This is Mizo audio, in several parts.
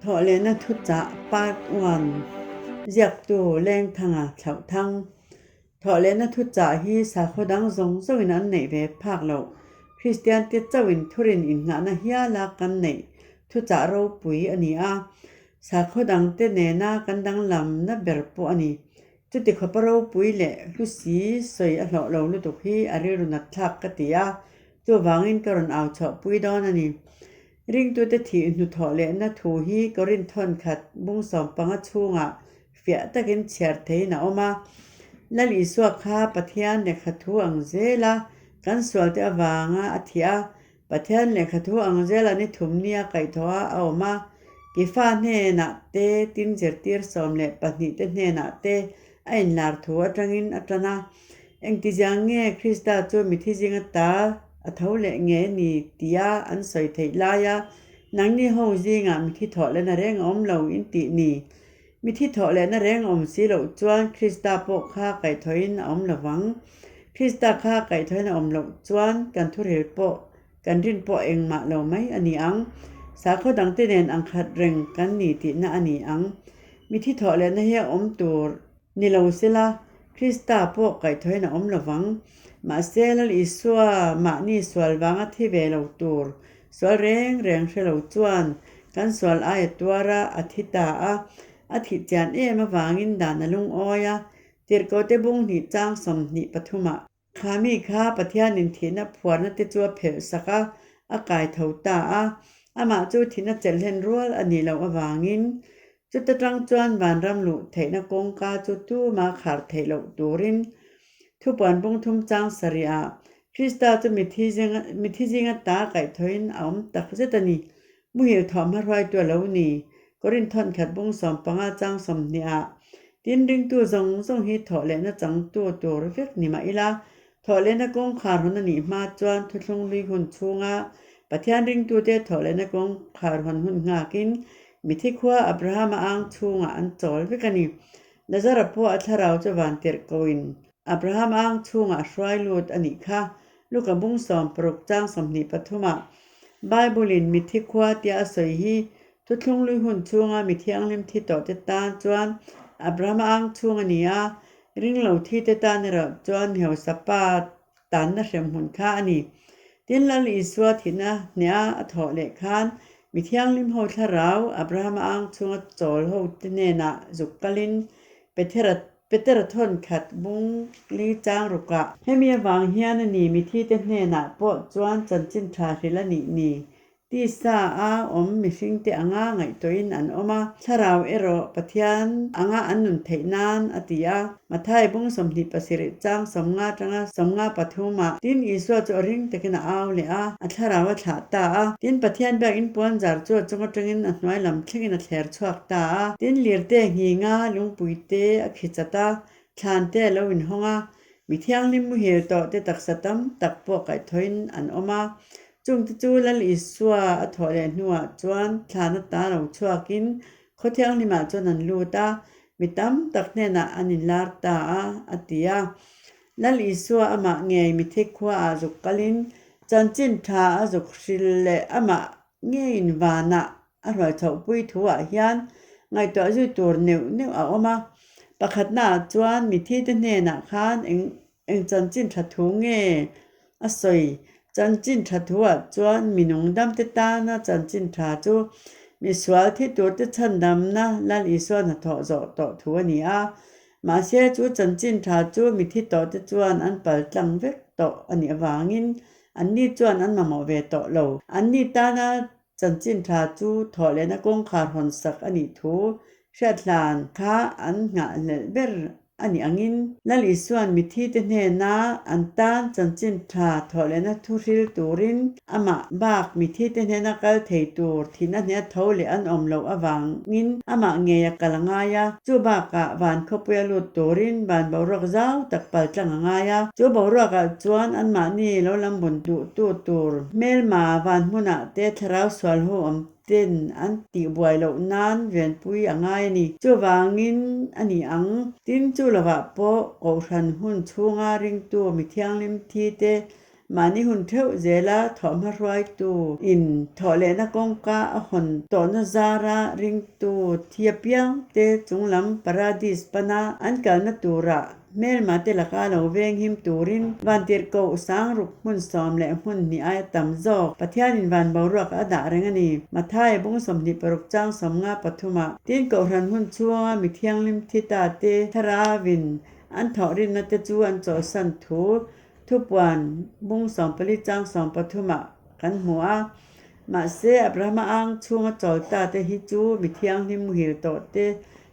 Thawhlehna thuchah Part One, Ziaktu, Lengthanga thlauh thang. Thawhlehna thuchah hi sakhaw dang zawng zawngin an neih ve phak lo. Kristiante chauhin thurin innghahna hiala kan neih thuchah ropui a ni a, sakhaw dangte nena kan danglamna ber pawh a ni. Chuti kha pa ropui leh hlusi sawi a hlawh lo lutuk hi a rilru natthlak ka ti a, chuvangin ka rawn au chhoh pui dawn a ni. Ringtute thih hnu thawh lehna thu hi ka rin thawn khat bung sawm panga chhunga fiah takin chhiar theiin a awm a. Lal Isua kha Pathian lehkha thu ang zela kan sualte avanga a thih a, Pathian lehkha thu ang zel an i thum nia kaih tho a a awm a, i fa hnenah te, tin zirtir sawm leh pahnih te hnenah te a inlar thu atangin a tan a. Engtiziang nge Krista chu mithi zing ata a tho leh nge ni tia an sawi theih lai a, nangni ho zingah mithi thawhlena reng a awm lo in tih ni? Mithi thawh lehna reng awm si loh chuan Krista pawh kha kaihthawhin a awm lovang. Krista kha kaihthawhin a awm loh chuan kan thurhil pawh, kan rin pawh engmah lo mai a ni ang. Sakhaw dangte nen ang khat reng kan ni tihna a ni ang. Mithi thawh lehna hi a awm tur ni lo sela, Krista pawh kaihthawhin a awm lovang. Mahse, Lal Isua mahni sual vanga thi ve lo tur Sual reng reng hre lo chuan kan sual aia tuar a, a thi ta a, a thih chian em avangin dan a lungawi a, tirhkote bung hnih chang sawm hnih pathumah. Kha mi kha Pathianin thihna phuarna te chu a phelh sak a, a kai tho ta a, amah chu thihna chelhlen rual a nih loh avangin Chuta tang chuan van ram luh theihna kawngka chu tuma kharh theih loh turin thupuan pungthum chang sarih ah Krista chu mithi zinga mithi zinga ta kaihthawhin a awm tak zet a ni. Muhil thawmhnaw hruaitu a lo ni. Korin thawnkhat bung sawm panga chang sawmhnih ah tin ringtu zawng zawng hi thawh lehna changtu tur vek ni mah ila Thawhlehna kawngkhar hawn a nih hma chuan Thuthlung Lui hun chhunga Pathian ringtute thawhlehna kawngkhar hawn hun nghakin mithi khua Abrahama ang chhungah an chawl vek a ni. Lazara pawh a thlarau chu van tirh koin Abraham ang chhungah a hruai lut a nih kha. Luka bung sawm paruk chang sawmhnih pathumah Bible-in mithi khua tia a sawi hi Thuthlung Lui hun chhunga mi thianghlim thi tawhte tan chuan Abrahama ang chhung a ni a, Ring lo thi te tan erawh chuan heusa pa tanna hrem hun kha a ni. Tin, Lal Isua thihna hneha a thawh leh khan, Mi Thianghlim ho thlarau Abrahama ang chhunga chawl ho te hnenah zuk kalin Petera Petera thawn khat bung li chang rukah, Hemi avang hian a ni, mithi te hnenah pawh chuan chanchin tha hril a nih ni, Tisa a awm mihring te anga ngaihtuahin an awm a, thlarau erawh Pathian anga an nun theih nan a ti a, Matthai bung sawmhnih pasirih chang sawmnga tanga sawmnga pathum ah, tin Isua chu a ring takin a au leh a, a thlarau a thlah ta a, tin Pathian biak in puan zar chu a chunga atangin a hnuai lam thlengin a thler chhuak ta a, tin lirte nghînga, lungpui te a khi chat a, thlan te a lo in hawng a, Mi Thianghlim muhil tawh te taksa tam tak pawh kaihthawhin an awm a, Chungte chu Lal Isua a thawh leh hnuah chuan thlan ata lo chhuakin khaw thianghlimah chuan an lut a, mi tam tak hnenah an inlar ta a, a ti a. Lal Isua amah ngei mithic khuaah zuk kalhin chanchin tha a zuk hril leh amah ngeiin vanah a hruaichhohpui thuah hian ngaihtuah zui tur neuh neuh a awm a. Pakhatnaah chuan mithite hnenah khan eng Eng chanchin tha thu nge a sawi? Chanchin tha thuah chuan minung damte tana chanchin tha chu misual thi turte chhandamna Lal Isuan hathawh zawh tawh thu a ni a. Mahse, chu chanchin tha chu mi thi tawhte chuan an pal tlang vek tawh a nih avangin anni chuan an mamawh ve tawh lo. Anni tana Chanchin thla chu thawhlehna kawngkhar hawn sak a nih thu hriatlan kha an nghahhlelh ber a nih angin, Lal Isuan mithite hnena an tan chanchin thla thawhlehna thu hril turin amah bak mithite hnena kal thei tur thihna hniattho leh an awm loh avangin amah ngeia kal a ngai a. Chu bakah van khawpui a lut turin van boruak zau tak pal tlang a ngai a. Chu boruakah chuan anmahni lo lam bun duhtu tur hmelma van hmunah te thlarau sual ho awm ten an tih buai loh nan rianpui a ngai a ni. Chuvangin a ni ang. Tin chu lovah pawh Kohhran hun chhunga ringtu mi thianghlim thi te Mahni hun theuh zela thawhhma hruaitu in thawhlehna kawngka a hawn tawhna zara ringtu thia piangte chunglam Paradis pana an kalna tura hmelmate laka lo venghim turin vantirhkoh sang ruk hmun sawm leh hmun hnih ai a tam zawk. Pathianin van boruak a dah reng a ni. Matthai bung sawmhnih paruk chang sawmnga pathuma tin kohhran hun chhunga mi thianghlim thitah te thlarau in an thawhrinna te chu an chawlhsan thu Thupuan bung sawm pali chang sawm pathuma kan hmu a, mahse Abrahama ang chhunga chawlta te hi chu mi thianghlim muhil tawh te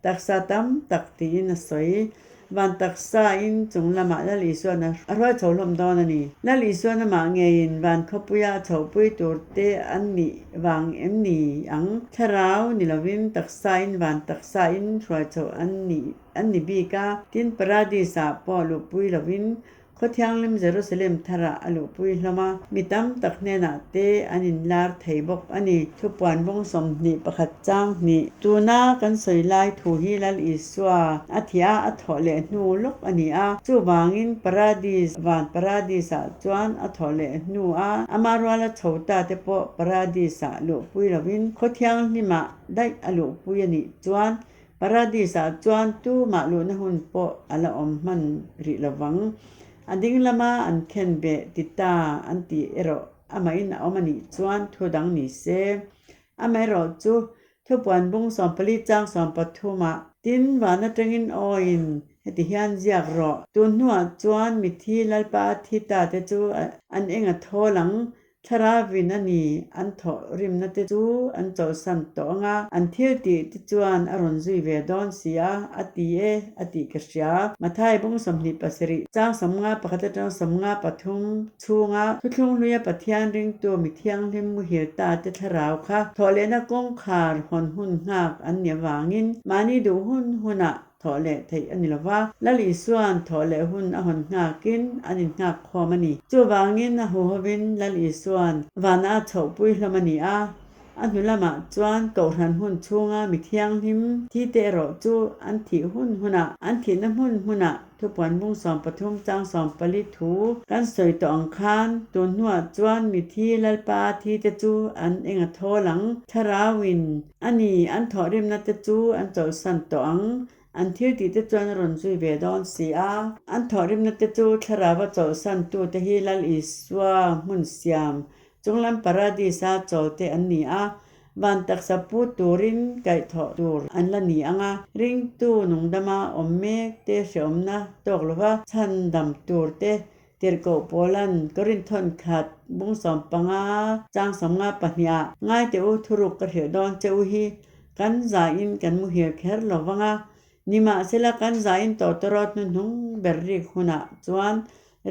taksa tam tak tiin a sawi. Van taksa in chung lama Lal Isuana a hruai chho hlawm dawn a ni. Lal Isuana mah ngeiin van khawpuia a chhohpui tur te an nih vang em ni ang? Thlarau ni lovin taksa in van taksa in hruai chho an nih An ni bik a, tin Paradis-ah pawh a luhpui loin, khaw-thianghlim Jerusalem Thar-ah a luhpui hlawm a, mi tam tak hnenah te an inlar thei bawk a ni. Thupuan rawng sawmhnih pakhat chang hnih. Tuna kan sawi lai thu hi Lal Isua a thih a a thawh leh hnu lawk a ni a, chuvangin Paradis, van Paradis-ah chuan a thawh leh hnu a, Amah ruala chhota te pawh Paradis-ah luhpui loin, khaw-thianghlimah daih a luhpui a nih chuan Paradisah chuan tumah luhna hun pawh a la awm hman rih lo vang. A ding lama an khen ve ti ta an ti erawh amahin a awm a nih chuan thu dang ni se. Amaherawh chu, Thupuanbung sawmpali chang sawm pathumah, Tin van atangin awiin heti hian ziak rawh. Tunhnuah chuan mithi Lalpa thi ta te chu an enga thawl ang? Thlarau in a nih an thawh rimna te chu an chawlhsan tawh ang a, an thil tih te chuan a rawn zui ve dawn si a, a ti e, a tih ka hria. Matthai bawng sawmhnih pasarih, chang sawmnga pakhat leh chang sawmnga pathum chhunga Thuthlung Hluia Pathian ringtu mi thianghlim muhil ta te thlarau kha thawh lehna kawngkhar hawn hun nghak an nih avangin mahni duh hun hunah thawh leh theih a ni lo va, Lal Isua'n thawh leh hun a hawn nghakin an inngak khawm a ni. Chuvangin a huhovin Lal Isua'n vana a chhoh pui hlawm a ni a, a hnu lamah chuan Kohhran hun chhunga mi thianghlim thite erawh chu an thih hun huna, an thihna hmun hmuna thupuanbung sawm pathum chang sawm pali thu kan sawi tawh ang khan tunhnuah chuan mithi Lalpa-a thite chu an enga thawl ang, Tharauin A ni, an thawhrimna te chu an chawlhsan tawh ang. An thil tih te chuan rawn zui ve dawn si a. An thawhrimna te chu thlarauva chawlhsan tu te hi Lal Isua hmun siam, chunglam Paradisa chawl te an ni a. Van taksa pu turin kaih thawh tur an la ni ang a. Ringtu nungdama awm mek te, hrehawmna tawk lova chhandam tur te, Tirhkoh Paula'n ka rin thawn khat bung sawm panga chang sawm nga pahnih ah ngai teh u thuruk ka hrilh dawn che u hi kan za in kan mu hir kher lo vang a, ni mah se la kan za in tawh tawh rawt hnuhnung ber rik hun ah chuan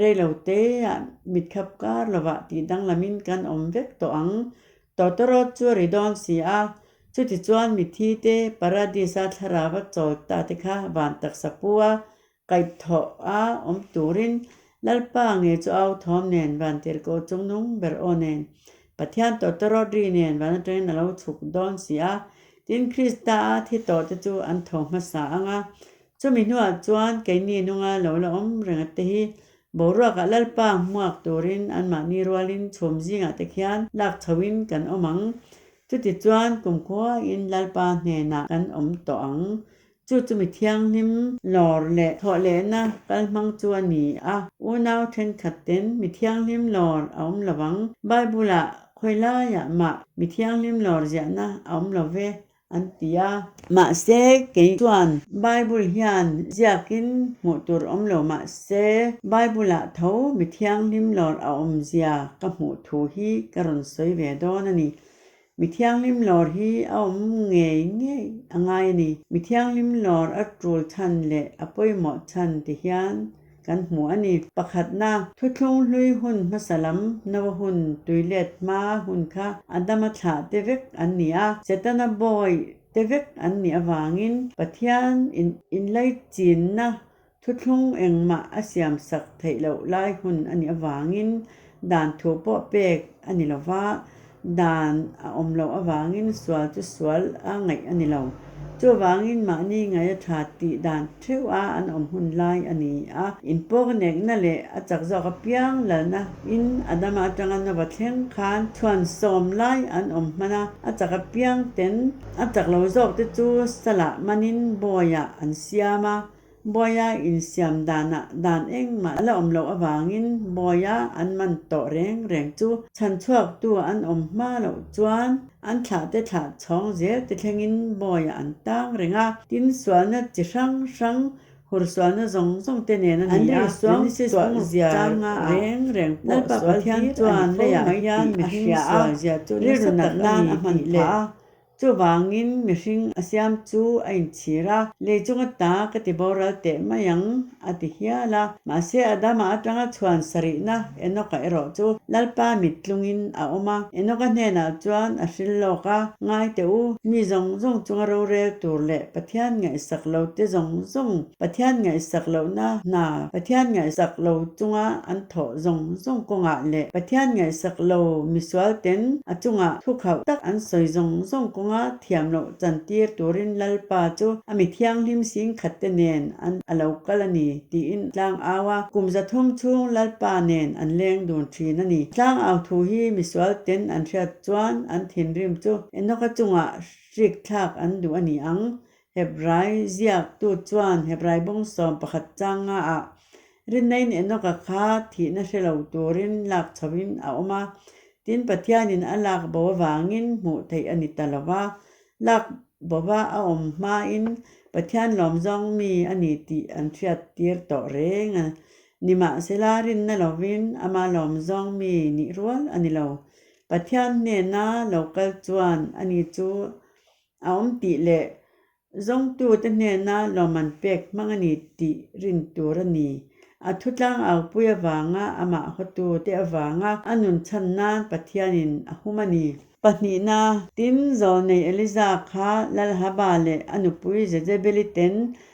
rei lo te ah mit khap kar lo vah tih dang lam in kan awm vek tawh ang, tawh tawh rawt chu a ri dawn si a, chuti chuan mithi te Paradise a thlarau a chawl ta te kha van taksa pu a Kaip thawh a awm turin Lalpa nge chu au thawm nen Vantirhkoh chung nung ber aw nen Pathian tawh te rawt ri nen van atangin a lo chhuk dawn si a, tin Krista a thi tawh te chu an tho hmasa ang a. Chumi hnuah chuan keini hnunga lo la awm reng a te hi boruakah Lalpa hmuak turin anmahni rualin chhum zingah te khian lak chhoin kan awm ang. Chuti chuan kumkhuain Lalpa hnenah kan awm tawh ang. Chu chu mi thianghlim lawr leh thawhlehna kal hmang chu a ni a. Unau thenkhat ten mi thianghlim lawr a awm lo ang. Bible-a khawi laiah mah mi thianghlim lawr ziahna a awm lo ve an ti a. Mahse, kei chuan Bible hian ziakin hmuh tur awm lo mah se, Bible-ah tho mi thianghlim lawr a awmzia ka hmuh thu hi ka rawn sawi ve dawn a ni. Mi thianghlim lawr hi a awm ngei ngei a ngai a ni. Mi thianghlim lawr a tul chhan leh a pawimawh chhan ti hian kan hmu a ni. Pakhatna, Thuthlung hlui hun hmasa lam Noa hun tuilet hma hun kha Adama thlah te vek an ni a, Setana bawi te vek an nih avangin Pathian in inlaichinna Thuthlung engmah a siam sak theih loh lai hun a nih avangin dan thu pawh pek a ni lo va, dan a awm loh avangin sual chu sual a ngaih a ni lo. Chuvangin mahni ngaia tha tih dan theuha an awm hun lai a ni a. In pawknekna leh a chak zawk apiang lalna in Adama atanga Nova thleng khan chhuan sawm lai an awm hman a, a chak apiang ten a chak lo zawkte chu sala manin bawiah an siam a. Bawia insiam danah dan engmah ala awm loh avangin bawia an man tawh reng reng chu chhan chhuaktu an awm hma loh chuan an thlahte thlah chhawng zel ti thlengin bawia an tang reng a, tin sualna chi hrang hrang hur sualna zawng zawng te nen a ni a, Genesis bungruk chang a ah Lalpa Pathian chuan leiah hian mi hring sual zia chu nasat tak a ni tih leh Chuvangin mihring a siam chu a inchhir a, Leicung ata ka ti boral teh mai ang, a ti hial a. Mahse, Adama atanga chhuan sarihna Enoka erawh chu Lalpa mit tlungin a awm a. Enoka hnenah chuan a hril lawk a, Ngaite u, mi zawng zawng chunga rorel tur leh Pathian ngaihsak lote zawng zawng, Pathian ngaihsak lohna hna, Pathian ngaihsak lo chunga an thawh zawng zawng kawngah leh Pathian ngaihsak lo misualten a chungah thukhauh tak an sawi zawng zawng kawnga thiam loh chantir turin Lalpa chu a mi thianghlim sin khatte nen an a lo kal a ni tiin a tlang au a, kum za thum chhung Lalpa nen an leng dun thin a ni. Tlang au thu hi misualten an hriat chuan an thinrim chu Enoka chungah hrikthlak an duh a ni ang, Hebrai ziaktu chuan Hebrai bawngsawm pakhat changa ah Rinein Enoka kha thihna hre lo turin lak chho in a awm a, tin Pathianin a lak bo avangin hmuh theih a ni ta lo va, lak bova a awm hmain Pathian lawm zawng mi a ni tih an hriat tir tawh reng a ni mahsela rinna lovin ama lawm zawng mi nih rual a ni lo. Pathian hnena lo kal chuan ani chu a awm tih leh zawngtute hnena lawm an pek hmang a ni tih rin tur a ni. A thutlang aupui avanga amah hawtute avanga a nun chhan nan Pathianin a hum a ni. Pahnihna, Tim zawlnei Eliza kha Lalhaba leh a nupui Jezebeli ten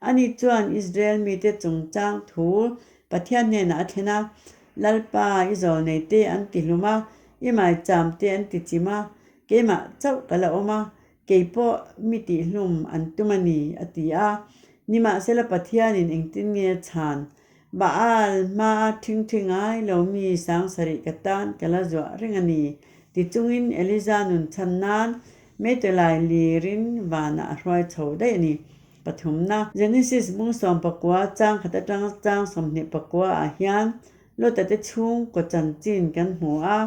Ani chuan Israel mite chungchang thu Pathian hnenah a thlen a, Lalpa, i zawl nei te an ti hlum a, i mai cham te an ti chim a, keimah chauh ka la awm a, kei pawh mi tih hlum an tum a ni, a ti a. Nimahsela Pathianin engtin nge chhan Baal hmaa thing thi ngai lomi sang sarih ka tan ka la zuah reng a ni. Tichungin Eliza nun chhan nan Meitu Lai lir in vanah a hruai chho daih a ni. Pathumna, Genesis bung sawm pakua chang khat atang chang sawmhnih pakua ah hian Lota te chhung kaw chanchin kan hmu a,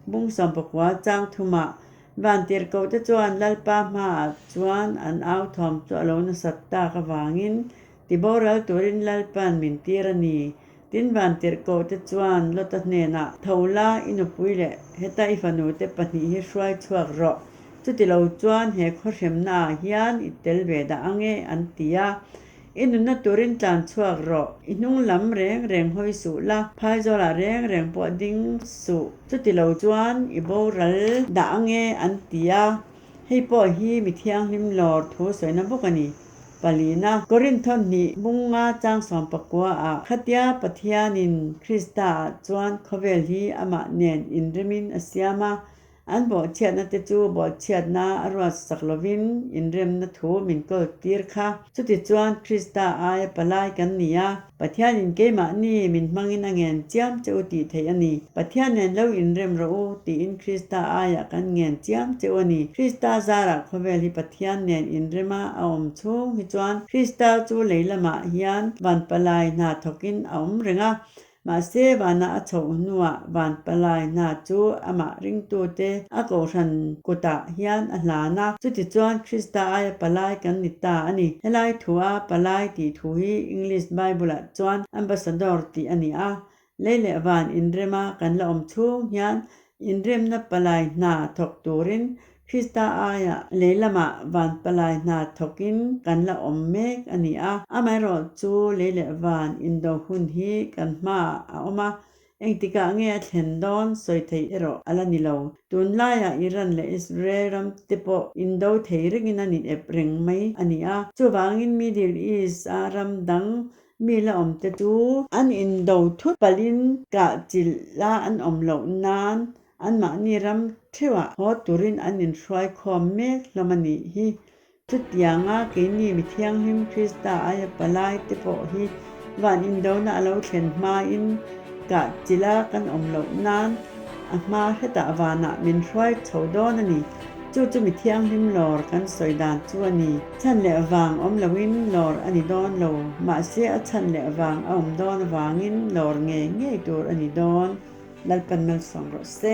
bung sawm pakua chang thum ah Vantirhkoh te chuan Lalpa hma ah chuan an authawm chu a lo nasat tak avangin Tiboral turin Lalpa'n min tir a ni. Tin Vantirhkoh te chuan Lota hnenah, Tho la, i nupui leh heta i fanu te pahnih hi hruai chhuak rawh. Chuti lo chuan he khaw hremna ah hian i tel ve dah ang e, an ti a. I nunna turin tlan chhuak rawh. I hnung lam reng reng hawi suh la, phai zawlah reng reng pawh ding suh. Chuti lo chuan i boral dah ang e, an ti a. Hei pawh hi mi thianghlim lawr thu sawina bawk a ni. Palina, Korintho hnih hmung nga chang sawm pakua ah khatia Pathian in Krista ah chuan khawvel hi amah nen in rem in a siam a, an bawhchhiat na te chu bawlhchhiat na a ruat sak lo in in rem na thu min kawl tir kha, chuti chuan Krista aia palai kan ni a, Pathianin keimahni min hmangin a ngen chiam che u tih theih a ni. Pathian nen lo inrem rawh u tiin Krista aiah kan ngen chiam che u a ni. Krista zarah khawvel hi Pathian nen inrema a awm chhung hi chuan Krista chu lei lamah hian van palai hna thawkin a awm reng a, mahse vana a chhoh hnuah van palai hna chu amah ringtute a kohhran kutah hian a hlan a. Chutichuan Krista aia palai kan ni ta a ni. Helai thu a palai tih thu hi English Bible-ah chuan ambassador tih a ni a. Lei leh van inrema kan la awm chhung hian inremna palai hna thawk turin Krista aia lei lamah van palai hna thawkin kan la awm mek a ni a. Amaherawhchu lei leh van indo hun hi kan hmaah a awm a, Engtikah nge a thlen dawn sawi thei erawh a la ni lo. Tunlaiah Iran leh Israel ram te pawh indo thei rengin an inep reng mai a ni a, chuvangin Middle East a ram dang mi la awm te chu, an indo thut palhin kahchilh la an awm loh nan anmahni ram theuhah haw turin an inhruai khawm mek hlawm a nih hi, Chutianga keini mi thianghlim Krista aia palai te pawh hi van indona a lo thlen hmain kahchila kan awm loh nan a hma hretah vanah min hruai chho dawn a ni. Chu chu mi thianghlim lawr kan sawi dan chu a ni. Chhan leh vang awm loin lawr a ni dawn lo, mahse a chhan leh vang a awm dawn avangin lawr nge ngei tur a ni dawn. Lalpan malsawng rawh se.